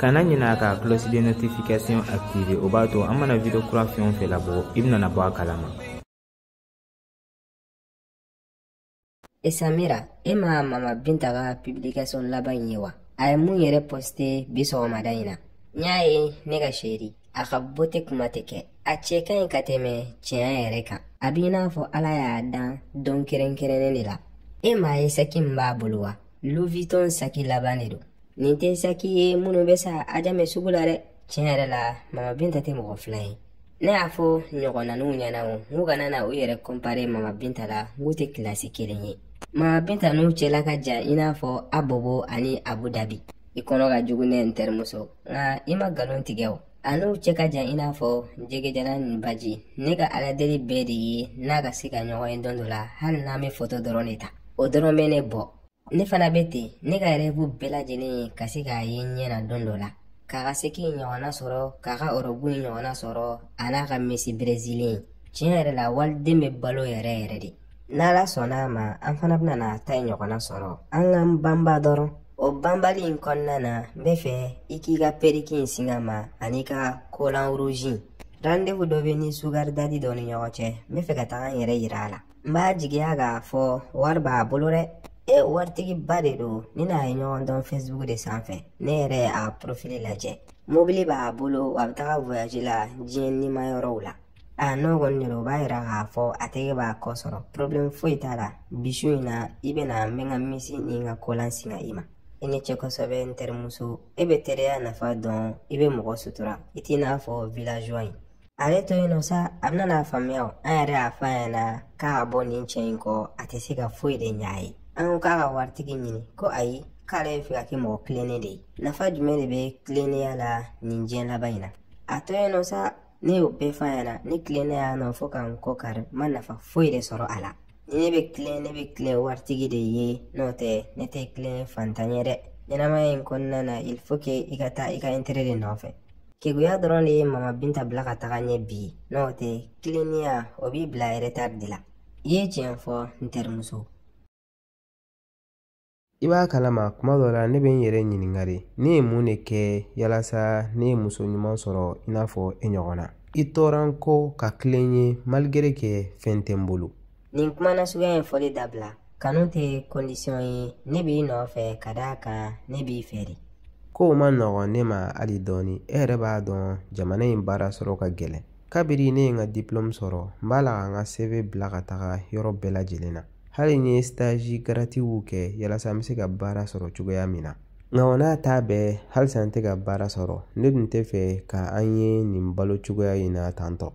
kana ɲina ka cloche de notification activer o b'a to an mana video kura fɛn o fɛn labɔ i bɛna bɔ a kalama e samira e ma mama binta ka publication laban in ye wa a ye mun yɛrɛ poste bi sɔgɔmada in na n y'a ye ne ka chérie a ka beauté kuma tɛ kɛ a cɛ ka ɲi ka tɛmɛ tiɲɛ yɛrɛ kan a b'i n'a fɔ ala y'a dan don kɛrɛnkɛrɛnnen de la e m'a ye saki min b'a bolo wa louis vuitton saki laban de don nin tɛ saki ye minnu bɛ san ajamɛ sugu la dɛ tiɲɛ yɛrɛ la mama binta tɛ mɔgɔ fila ye ne y'a fɔ ɲɔgɔnnaninw ɲɛna o n k'u kana na u yɛrɛ kɔnpare mama binta la n k'u tɛ kilasi kelen ye mama binta n'u cɛla ka jan i n'a fɔ abobo ani abu dabi i kɔnɔ ka jugu ne n terimuso nka i ma nkalon tigɛ o a n'u cɛ ka jan i n'a fɔ jɛgɛjalan ni baji ne ka aladeli bɛɛ de ye n'a ka se ka ɲɔgɔn ye don dɔ la hali n'an bɛ foto dɔrɔn de ta o dɔrɔn bɛ ne bɔ ne fana bɛ ten ne ka rêve bɛɛ lajɛlen ye ka se k'a ye n ɲɛ na don dɔ la k'a ka saki ɲɔgɔnna sɔrɔ k'a ka ɔrɔbu ɲɔgɔnna sɔrɔ a n'a ka mesi berezili tiɲɛ yɛrɛ la waliden bɛ balo yɛrɛ yɛrɛ de n'ala sɔnna a ma an fana bɛna n'a ta in ɲɔgɔnna sɔrɔ an k'an banba dɔrɔn o banbali in kɔnɔna na n bɛ fɛ i k'i ka periki in singa n ma an'i ka kolan rouge rendez-vous dɔ bɛ n ni sugar daddy dɔ ni ɲɔgɔn cɛ n bɛ fɛ ka taga n yɛrɛ yira a la n b'a jigiya k'a fɔ wari b'a bolo dɛ e waritigiba de don ne n'a ye ɲɔgɔn dɔn facebook de sanfɛ ne yɛrɛ y'a profil lajɛ mobili b'a bolo a bɛ taga voyage la diɲɛ ɲuman yɔrɔw la a n'o kɔni de don o b'a yira k'a fɔ a tɛgɛ b'a kɔ sɔrɔ problème foyi t'a la bi su in na i bɛna n bɛ n ka mesi ni n ka kolan singa i ma i ni cɛ kosɛbɛ n terimuso e bɛ teriya nafa dɔn i bɛ mɔgɔ sutura i t'i n'a fɔ villageois in ale to yen nɔ sa a bɛna n'a faamuya o an yɛrɛ y'a fɔ a ɲɛna k'a ka bɔ nin cɛ in kɔ a tɛ se ka foyi de ɲɛ a ye an ko k'a ka waritigi ɲini ko ayi k'ale bɛ fɛ ka kɛ mɔgɔ tilennen de ye nafa jumɛn de bɛ tilennenya la nin diɲɛ laban in na a to yen nɔ sa ne y'o bɛɛ fɔ a ɲɛna ne tilennen yan nɔ fo ka n kɔ kari n ma nafa foyi de sɔrɔ a la ni ne bɛ tilen ne bɛ tilen waritigi de ye n'o tɛ ne tɛ tilen fantan ye dɛ ɲɛnamaya in kɔnɔna na il faut que i ka taa i ka intérêt de nɔfɛ keguya dɔrɔn de ye mama binta bila ka taga ɲɛ bi n'o tɛ tilennenya o b'i bila retard de la i ye tiɲɛ fɔ n terimuso i b'a kalama tuma dɔ la ne bɛ n yɛrɛ ɲininka de ne ye mun de kɛ yalasa ne ye muso ɲuman sɔrɔ i n'a fɔ e ɲɔgɔnna i tora n kɔ ka tilen n ye malgré que fɛn tɛ n bolo nin kuma nasuguya in fɔli dabila kanu tɛ kɔndisiyɔn ye ne b'i nɔfɛ ka d'a kan ne b'i fɛ de kow man nɔgɔn ne ma hali dɔɔni e yɛrɛ b'a dɔn jamana in baara sɔrɔ ka gɛlɛn kabiri ne ye n ka diplɔmu sɔrɔ n b'a la ka n ka cv bila ka taga yɔrɔ bɛɛ lajɛlen na hali n ye sitazi garatiw kɛ yalasa n bɛ se ka baara sɔrɔ cogoya min na nka o n'a ta bɛɛ halisa n tɛ ka baara sɔrɔ ne tun tɛ fɛ ka an ye nin balo cogoya in na tantɔ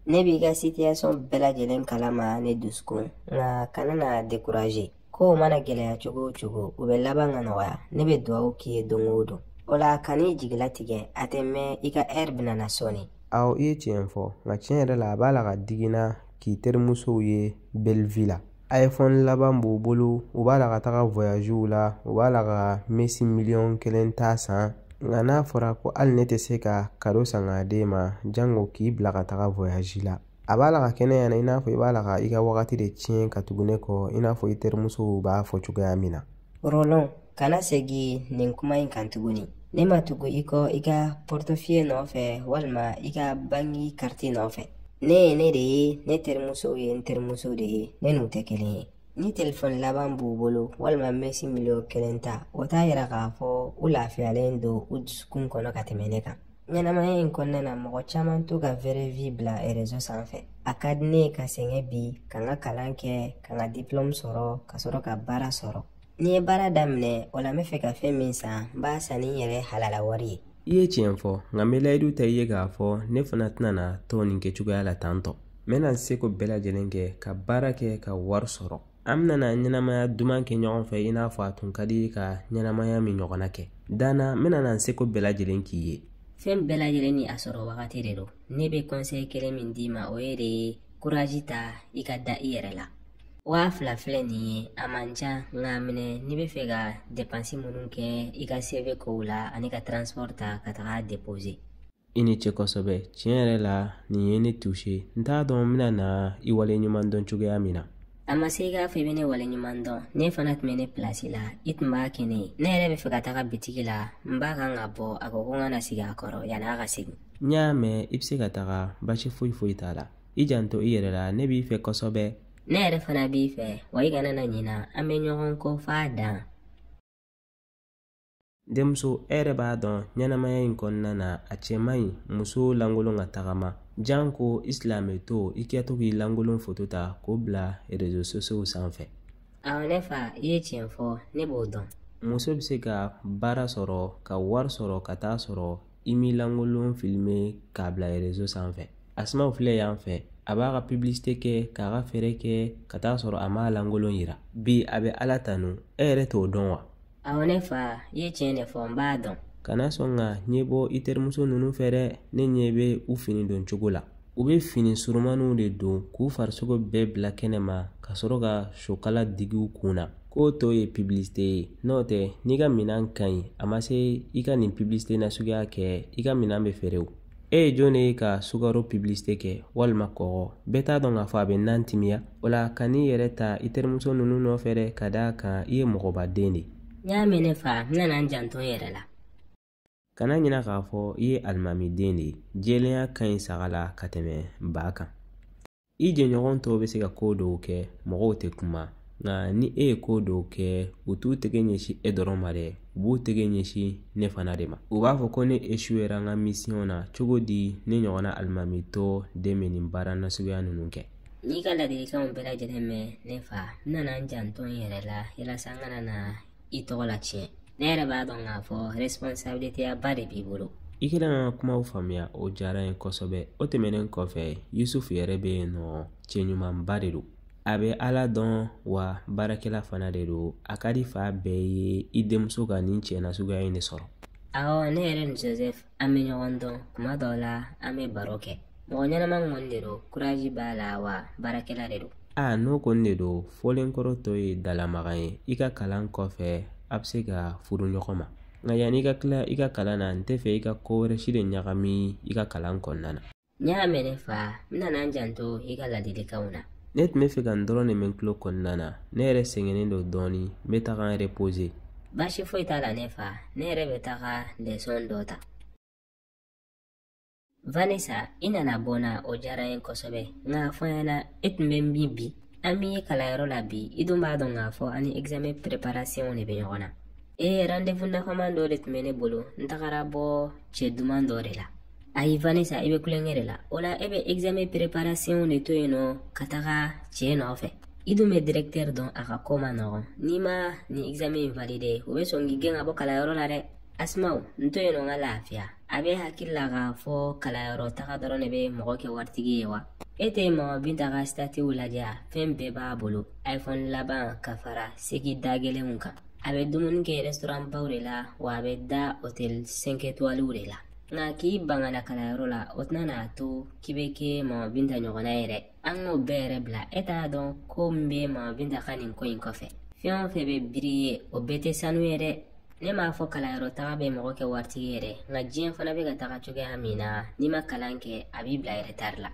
ne b'i ka situation bɛɛ lajɛlen kalama ne dusukun nka kana na dekuraze kow mana gɛlɛya cogo o cogo u bɛ laban ka nɔgɔya ne bɛ dugawu k'i ye don o don o la kan'i jigilatigɛ a tɛ mɛn i ka ɛri bɛna na sɔɔni awɔ i ye tiɲɛ fɔ nka tiɲɛ yɛrɛ la a b'a la ka digi n na k'i terimusow ye belivi la iphone laban b'u bolo u b'a la ka taga voyagew la u b'a la ka mesi miliyɔn kelen ta san nka n'a fɔra ko hali ne tɛ se ka kado san k'a d'e ma jango k'i bila ka taga voyage la a b'a la ka kɛ ne ɲɛna i n'a fɔ i b'a la ka i ka wagati de tiɲɛ ka tugu ne kɔ i n'a fɔ i terimusow b'a fɔ cogoya min na Rolon, kana segi nin kuma in kan tuguni. Ne ma tugu i kɔ i ka pɔrtɔfiye nɔfɛ walima i ka banki kariti nɔfɛ. Ne ye ne de ye, ne terimusow ye n terimusow de ye, ne n'u tɛ kelen ye. Ni telefɔni laban b'u bolo walima mesi miliyɔn kelen ta, o t'a yira k'a fɔ u lafiyalen don u dusukun kɔnɔ ka tɛmɛ ne kan. ɲɛnamaya in kɔnɔna na mɔgɔ caman t'u ka vɛrɛ vi bila rezo sanfɛ a ka di ne ye ka sɛgɛn bi ka n ka kalan kɛ ka n ka diplɔmu sɔrɔ ka sɔrɔ ka baara sɔrɔ ni n ye baara daminɛ o la n bɛ fɛ ka fɛn min san n b'a san ni n yɛrɛ halala wari ye i ye tiɲɛ fɔ nka n bɛ layidu ta i ye k'a fɔ ne fana tɛna na to nin kɛ cogoya la tan tɔ n bɛna n seko bɛɛ lajɛlen kɛ ka baara kɛ ka wari sɔrɔ an bɛna ɲɛnamaya duman kɛ ɲɔgɔn fɛ i n'a fɔ a tun ka d'i ye ka ɲɛnamaya min ɲɔgɔnna kɛ danna n bɛna n seko bɛɛ lajɛlen k'i ye fɛn bɛɛ lajɛlen ni a sɔrɔ wagati de don ne bɛ kɔnsɛyi kelen min d'i ma o ye de ye kurazi ta i ka da i yɛrɛ la waa fila filɛ nin ye a man ca nk'a minɛ n'i bɛ fɛ ka depansi minnu kɛ i ka cv kow la ani ka transport ta ka taga a depose i ni ce kosɛbɛ tiɲɛ yɛrɛ la nin ye ne tuse n t'a dɔn n bɛna na i wale ɲuman dɔn cogoya min na a ma se i k'a fɔ i bɛ ne wale ɲuman dɔn n'e fana tun bɛ ne pilasi la i tun b'a kɛ ne ye ne yɛrɛ bɛ fɛ ka taga bitigi la n ba kan ka bɔ a ko ko n ka na sigi a kɔrɔ yanni a ka segin n y'a mɛn i bɛ se ka taga basi foyi foyi t'a la i janto i yɛrɛ la ne b'i fɛ kosɛbɛ ne yɛrɛ fana b'i fɛ wa i kana na ɲina an bɛ ɲɔgɔn kɔ f'a dan denmuso e yɛrɛ b'a dɔn ɲɛnamaya in kɔnɔna na a cɛ man ɲi muso lankolon ka tagama janko i silamɛtɔ i kɛtɔ k'i lankolon foto ta k'o bila réseaux sociaux sanfɛ awɔ ne fa i ye tiɲɛ fɔ ne b'o dɔn muso bɛ se ka baara sɔrɔ ka wari sɔrɔ ka taa sɔrɔ i m'i lankolon filime k'a bila réseau sanfɛ asimaw filɛ yan fɛ a b'a ka publicité kɛ k'a ka feere kɛ ka taa sɔrɔ a m'a lankolon yira bi a bɛ ala tanu e yɛrɛ t'o dɔn wa awɔ ne fa i ye tiɲɛ de fɔ n b'a dɔn kana sɔn ka ɲɛ bɔ i terimuso ninnu fɛ dɛ ne ɲɛ bɛ u fini don cogo la u bɛ fini surumaniw de don k'u farisogo bɛɛ bila kɛnɛ ma ka sɔrɔ ka sokala digi u kun na k'o tɔgɔ ye publicité ye n'o tɛ n'i ka minan ka ɲi a ma se i ka nin publicité nasuguya kɛ i ka minan bɛ feere o e ye jɔn de ye ka sukaro publicité kɛ walima kɔgɔ bɛɛ t'a dɔn k'a fɔ a bɛ nan timiya o la kan'i yɛrɛ ta i terimuso ninnu nɔfɛ dɛ ka d'a kan i ye mɔgɔbaden de ye n y'a mɛn ne fa n nana n janto n yɛrɛ la kana ɲina k'a fɔ i ye alimamiden de ye jɛlenya ka ɲi saga la ka tɛmɛ ba kan i jɛɲɔgɔn tɔw bɛ se ka ko dɔw kɛ mɔgɔw tɛ kuma nka ni e ye ko dɔw kɛ u t'u tɛgɛ ɲɛsin e dɔrɔn ma dɛ u b'u tɛgɛ ɲɛsin ne fana de ma u b'a fɔ ko ne échouera n ka misiyɔn na cogo di ne ɲɔgɔnna alimamitɔ den bɛ nin baara nasuguya ninnu kɛ n y'i ka ladilikanw bɛɛ lajɛlen mɛn ne fa n nana n janto n yɛrɛ la yalasa n kana na i tɔgɔ latiɲɛ ne yɛrɛ b'a dɔn k'a fɔ responsabiliteya ba de b'i bolo i kɛlen ka kumaw faamuya o diyara n ye kosɛbɛ o tɛmɛnen kɔfɛ yusufu yɛrɛ bɛ yen nɔ cɛ ɲumanba de don a bɛ ala dɔn wa baarakɛla fana de don a ka di fa bɛɛ ye i denmuso ka nin cɛ nasuguya in de sɔrɔ awɔ ne yɛrɛ ni joseph an bɛ ɲɔgɔn dɔn tuma dɔw la an bɛ baro kɛ mɔgɔ ɲɛnama kɔni de don kurazi b'a la wa baarakɛla de don a n'o kɔni de don fɔlenkɔrɔ tɔ ye dalamaga ye i ka kalan kɔfɛ aw bɛ se ka furu ɲɔgɔn ma nka yanni i ka tila i ka kalan na n tɛ fɛ i ka ko wɛrɛ si de ɲagami i ka kalan kɔnɔna na n y'a mɛn ne fa n nana n janto i ka ladilikanw na ne tun bɛ fɛ ka nin dɔrɔn de mɛn tulo kɔnɔna na ne yɛrɛ sɛgɛnnen don dɔɔni n bɛ taga n reposer baasi foyi t'a la ne fa ne yɛrɛ bɛ taga lesɔn dɔ ta vanessa i nana bɔ n na o diyara n ye kosɛbɛ nka fɔ n ɲɛna e tun bɛ min bi an m'i ye kalanyɔrɔ la bi i dun b'a dɔn k'a fɔ an ni examen préparation de bɛ ɲɔgɔn na ee rendez-vous nafama dɔ de tun bɛ ne bolo n tagara bɔ cɛ duman dɔ de la ayi vanessa i bɛ tulonkɛ de la o la e bɛ examen préparation de to yen nɔ ka taga cɛ nɔfɛ i dun bɛ directeur dɔn a ka ko man nɔgɔn n'i ma nin examen in valider o bɛ sɔn k'i gɛn ka bɔ kalanyɔrɔ la dɛ asimaw n to yen nɔ n ka lafiya a b'e hakili la k'a fɔ kalanyɔrɔ taga dɔrɔn de bɛ mɔgɔ kɛ waritigi ye wa e tɛ mama binta ka statiw lajɛ a fɛn bɛɛ b'a bolo iphone laban ka fara segi da gɛlɛnw kan a bɛ dumuni kɛ restaurant baw de la wa a bɛ da hôtel 5 étoiles de la nka k'i ban ka na kalanyɔrɔ la o tɛna n'a to k'i bɛ kɛ mama binta ɲɔgɔnna ye dɛ an k'o bɛɛ yɛrɛ bila e t'a dɔn ko min bɛ mama binta ka nin ko in kɔfɛ fɛn o fɛn bɛ briller o bɛɛ tɛ sanu ye dɛ ne m'a fɔ kalanyɔrɔ taga bɛ mɔgɔ kɛ waritigi ye dɛ nka diɲɛ fana bɛ ka taga cogoya min na n'i ma kalan kɛ a b'i bila retard la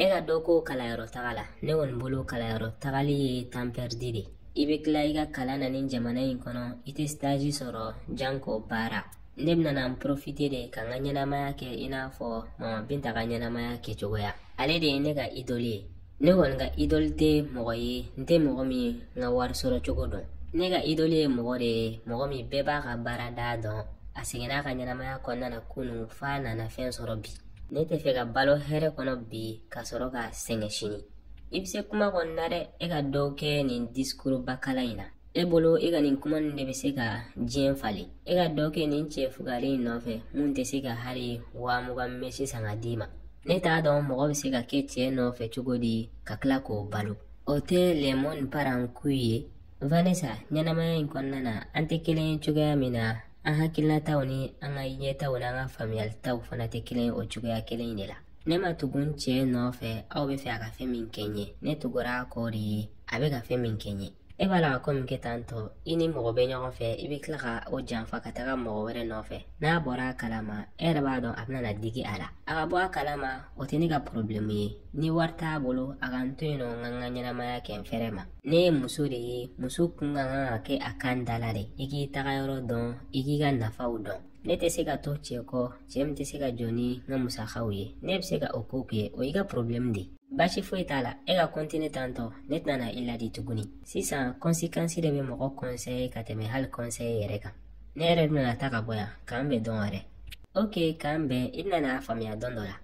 e ka dɔ kɛ kalanyɔrɔ taga la ne kɔni bolo kalanyɔrɔ tagali ye temps perdu de ye i bɛ tila i ka kalan na nin jamana in kɔnɔ i tɛ sitazi sɔrɔ janko baara ne bɛna na n porofite de ka n ka ɲɛnamaya kɛ i n'a fɔ mama binta ka ɲɛnamaya kɛ cogoya ale de ye ne ka idoli ye ne kɔni ka idoli tɛ mɔgɔ ye n tɛ mɔgɔ min ka wari sɔrɔ cogo dɔn ne ka idoli ye mɔgɔ de ye mɔgɔ min bɛɛ b'a ka baarada dɔn a sɛgɛnna a ka ɲɛnamaya kɔnɔna na kunun f'a nana fɛn sɔrɔ bi ne tɛ fɛ ka balo hɛrɛ kɔnɔ bi ka sɔrɔ ka sɛgɛn sini i bɛ se kuma kɔni na dɛ e ka dɔ kɛ nin disikuru bakala in na e bolo e ka nin kuma nin de bɛ se ka diɲɛ falen e ka dɔ kɛ nin cɛ fugari in nɔfɛ min tɛ se ka hali wa mugan mɛsi san ka d'i ma ne t'a dɔn mɔgɔ bɛ se ka kɛ cɛ nɔfɛ cogo di ka tila k'o balo o tɛ le monde part en couille ye vanessa ɲɛnamaya in kɔnɔna na an tɛ kelen ye cogoya min na an hakilinataw ni an ka ɲɛtaw n'an ka faamuyalitaw fana tɛ kelen ye o cogoya kelen in de la ne ma tugun cɛ nɔfɛ aw bɛ fɛ a ka fɛn min kɛ n ye ne tugura a kɔ de ye a bɛ ka fɛn min kɛ n ye e b'a la ka ko min kɛ tan tɔ i ni mɔgɔ bɛ ɲɔgɔn fɛ i bɛ tila ka o janfa ka taga mɔgɔ wɛrɛ nɔfɛ n'a bɔra a kalama e yɛrɛ b'a dɔn a bɛna na digi a la a ka bɔ a kalama o tɛ ne ka porobilɛmu ye ni wari t'a bolo a ka n to yen nɔ n ka n ka ɲɛnamaya kɛ n fɛrɛ ma ne ye muso de ye muso kun ka kan ka kɛ a kan da la de i k'i taga yɔrɔ dɔn i k'i ka nafaw dɔn ne tɛ se ka to cɛ kɔ cɛ min tɛ se ka jɔ ni n ka musakaw ye n'e bɛ se ka o ko kɛ o y'i ka porobilɛmu de ye baasi foyi t'a la e ka kɔntine tantɔ ne tɛna i ladi tuguni sisan kɔnsekansi de bɛ mɔgɔ kɔnsɛye ka tɛmɛ hali kɔnsɛye yɛrɛ kan ne yɛrɛ bɛna ta ka bɔ yan k'an bɛn dɔn wɛrɛ ok k'an bɛn i bɛna n'a faamuya dɔn dɔ la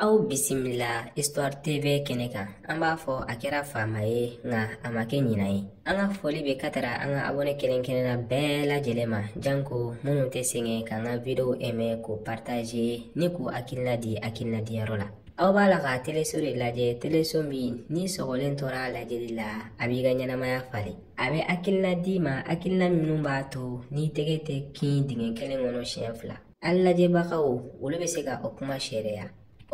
aw bisimila histoire tv kɛnɛ kan an b'a fɔ a kɛra fama ye nka a ma kɛ ɲina ye an ka foli bɛ ka taga an ka abɔne kelen-kelenna bɛɛ lajɛlen ma janko minnu tɛ sɛgɛn k'an ka video ɛmɛ k'o partager ni k'u hakilina di hakilina diyɔrɔ la aw b'a la ka teleso de lajɛ teleso min n'i sɔgɔlen tora a lajɛli la a b'i ka ɲɛnamaya falen a bɛ hakilina d'i ma hakilina minnu b'a to n'i tɛgɛ tɛ kin dingɛ kelen kɔnɔ siɲɛ fila An lajɛbagaw olu bɛ se ka o kuma seereya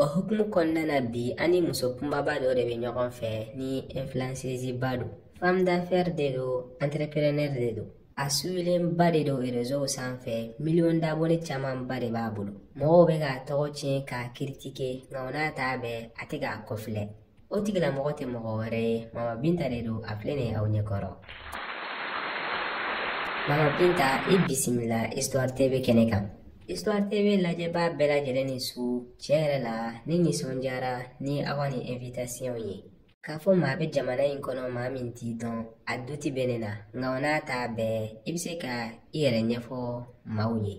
o hukumu kɔnɔna na bi an ni muso kunbaba dɔ de bɛ ɲɔgɔn fɛ ni influenceuseba don femme d'affaires de don entrepreneur de don a suwilenba de don rezow sanfɛ miliyɔn d'abonnés camanba de b'a bolo mɔgɔw bɛ k'a tɔgɔ tiɲɛ k'a critiquer nka o n'a ta bɛɛ a tɛ k'a kɔfilɛ o tigilamɔgɔ tɛ mɔgɔ wɛrɛ ye mama binta de don a filɛ nin ye aw ɲɛ kɔrɔ mama binta i bisimila histoire tv kɛnɛ kan histoire tv lajɛbaa bɛɛ lajɛlen ni su tiɲɛ yɛrɛ la ne nisɔndiyara ni aw ka nin invitation ye k'a fɔ maa bɛ jamana in kɔnɔ maa min t'i dɔn a doute bɛ ne na nka o n'a ta bɛɛ i bɛ se ka i yɛrɛ ɲɛfɔ maaw ye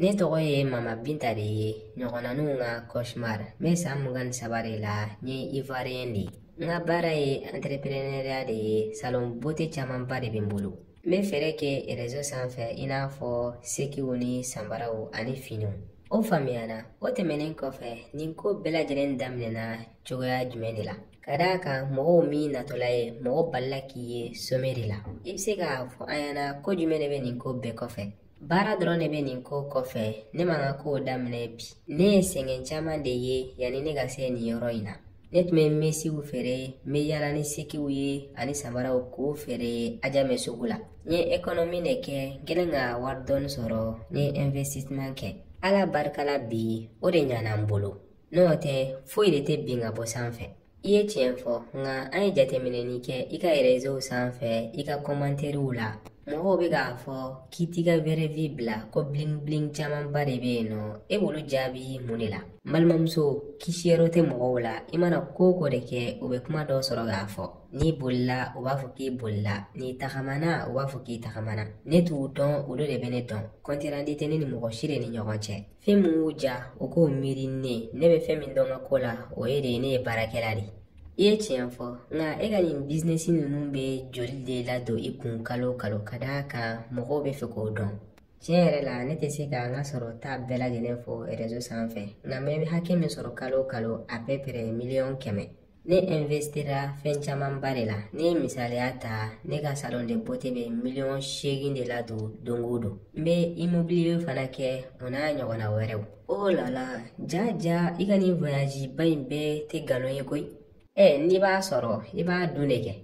Ne tɔgɔ ye Mama Binta de ye ɲɔgɔnnaninw ka cauchemar n bɛ san mugan ni saba de la n ye Ivoirien de ye n ka baara ye entrepreneuriat de ye salon beauté camanba de bɛ n bolo n bɛ feere kɛ réseau sanfɛ i n'a fɔ sekiw ni sanbaraw ani finiw o faamuyana o tɛmɛnen kɔfɛ nin ko bɛɛ lajɛlen daminɛna cogoya jumɛn de la ka d'a kan mɔgɔw m'i natɔla ye mɔgɔ balila k'i ye sommet de la i bɛ se k'a fɔ an ɲɛna ko jumɛn de bɛ nin ko bɛɛ kɔfɛ baara dɔrɔn de bɛ nin ko kɔfɛ ne ma n ka kow daminɛ bi ne ye sɛgɛn caman de ye yanni ne ka se nin yɔrɔ in na ne tun bɛ mesiw feere n bɛ yaala ni sekiw ye ani samaraw k'o feere Adjamé sugu la n ye économie de kɛ n kɛlen ka wari dɔɔni sɔrɔ n ye investissement kɛ Ala barika la bi o de ɲana n bolo n'o tɛ foyi de tɛ bin ka bɔ sanfɛ i ye tiɲɛ fɔ nka an ye jateminɛni kɛ i ka rezow sanfɛ i ka kɔmantɛriw la mɔgɔw bɛ k'a fɔ k'i t'i ka vraie vie bila ko bling bling camanba de bɛ yen nɔ e b'olu jaabi mun de la n balimamuso kisiyɔrɔ tɛ mɔgɔw la i mana ko o ko de kɛ u bɛ kuma dɔ sɔrɔ k'a fɔ n'i bolila u b'a fɔ k'i bolila n'i tagamana u b'a fɔ k'i tagamana ne t'u dɔn olu de bɛ ne dɔn compte rendu tɛ ne ni mɔgɔ si de ni ɲɔgɔn cɛ fɛn min y'u ja u k'o miiri ne ne bɛ fɛn min dɔn n ka ko la o ye de ye ne ye baarakɛla de i ye tiɲɛ fɔ nka e ka nin business ninnu bɛ joli de ladon i kun kalo o kalo ka d'a kan mɔgɔw bɛ fɛ k'o dɔn tiɲɛ yɛrɛ la ne tɛ se ka n ka sɔrɔta bɛɛ lajɛlen fɔ réseau sanfɛ nka n bɛ hakɛ min sɔrɔ kalo o kalo à peu près miliyɔn kɛmɛ ne investira fɛn camanba de la ne ye misaliya ta ne ka salon de beauté bɛ miliyɔn seegin de ladon don o don n bɛ immobilier fana kɛ o n'a ɲɔgɔnna wɛrɛw o oh la la jaa jaa i ka nin voyage ba in bɛɛ tɛ nkalon ye koyi ɛ n'i b'a sɔrɔ i b'a dun de kɛ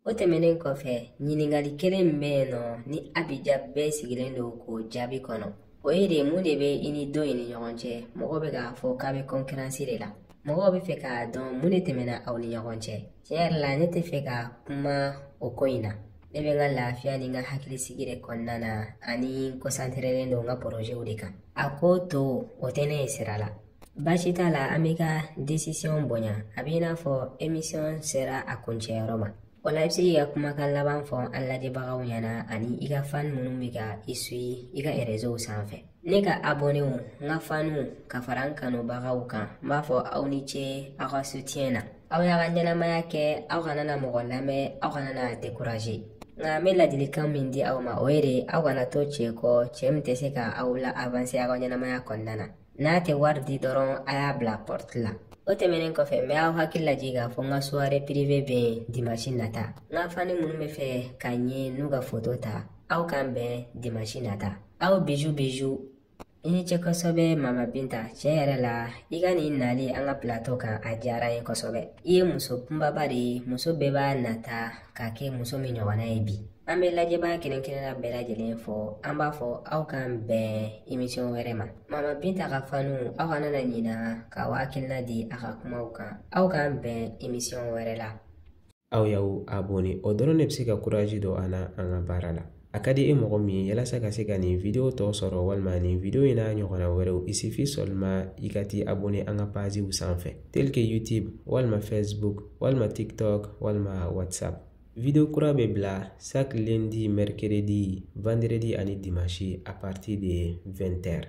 o tɛmɛnen kɔfɛ ɲininkali kelen min bɛ yen nɔ ni abija bɛɛ sigilen don k'o jaabi kɔnɔ o ye de mun de bɛ i ni dɔ in ni ɲɔgɔn cɛ mɔgɔw bɛ k'a fɔ k'a bɛ kɔnkiransi de la mɔgɔw bɛ fɛ k'a dɔn mun de tɛmɛna aw ni ɲɔgɔn cɛ tiɲɛ yɛrɛ la ne tɛ fɛ ka kuma o ko in na ne bɛ n ka lafiya ni n ka hakilisigi de kɔnɔna na ani n kɔsanterelen don n ka porozew de kan a ko tɔ o tɛ ne ye sira la baasi t'a la an b'i ka desisiyɔn bonya a bɛ i n'a fɔ emisiyɔn sera a kuncɛyɔrɔ ma o la i bɛ se k'i ka kumakan laban fɔ an lajɛbagaw ɲɛna ani i ka fan minnu bɛ ka i suyi i ka erezow sanfɛ ne ka abɔnew n ka faniw ka fara n kanubagaw kan n b'a fɔ aw ni ce aw ka sutiyɛn na aw y'a ka ɲɛnamaya kɛ aw kana na mɔgɔ lamɛn aw kana na dekuraze nka n bɛ ladilikan min di aw ma o ye de aw kana to cɛ kɔ cɛ min tɛ se ka aw la awanse aw ka ɲɛnamaya kɔnɔna na n'a tɛ wari di dɔrɔn a y'a bila pɔrti la o tɛmɛnen kɔfɛ n bɛ aw hakili lajigin k'a fɔ n ka soirée privée bɛ yen dimanche nata n ka fani minnu bɛ fɛ ka n ye n'u ka foto ta aw k'an bɛn dimanche nata aw biju biju i ni ce kosɛbɛ mama binta tiɲɛ yɛrɛ la i ka nin nali an ka pilato kan a diyara an ye kosɛbɛ i ye muso kunbaba de ye muso bɛɛ b'a nata ka kɛ muso min ɲɔgɔnna ye bi an bɛ lajɛbaa kelenkelenna bɛɛ lajɛlen fo an b'a fɔ aw k'an bɛn emisiyɔn wɛrɛ ma mama binta ka fanw aw kana na ɲina k'aw hakilina di a ka kumaw kan aw k'an bɛn emisiyɔn wɛrɛ la aw y'aw abone o dɔrɔn de bɛ se ka kurazi don an na an ka baara la a ka di e mɔgɔ min ye yalasa ka se ka nin video tɔ sɔrɔ walima nin video in n'a ɲɔgɔnna wɛrɛw il suffit seulement i ka t'i abone an ka paziw sanfɛ tel que youtube walima facebook walima tiktok walima whatsapp Video kura bɛ bila chaque lundi, mercredi, vendredi ani dimanche à partir de 20h.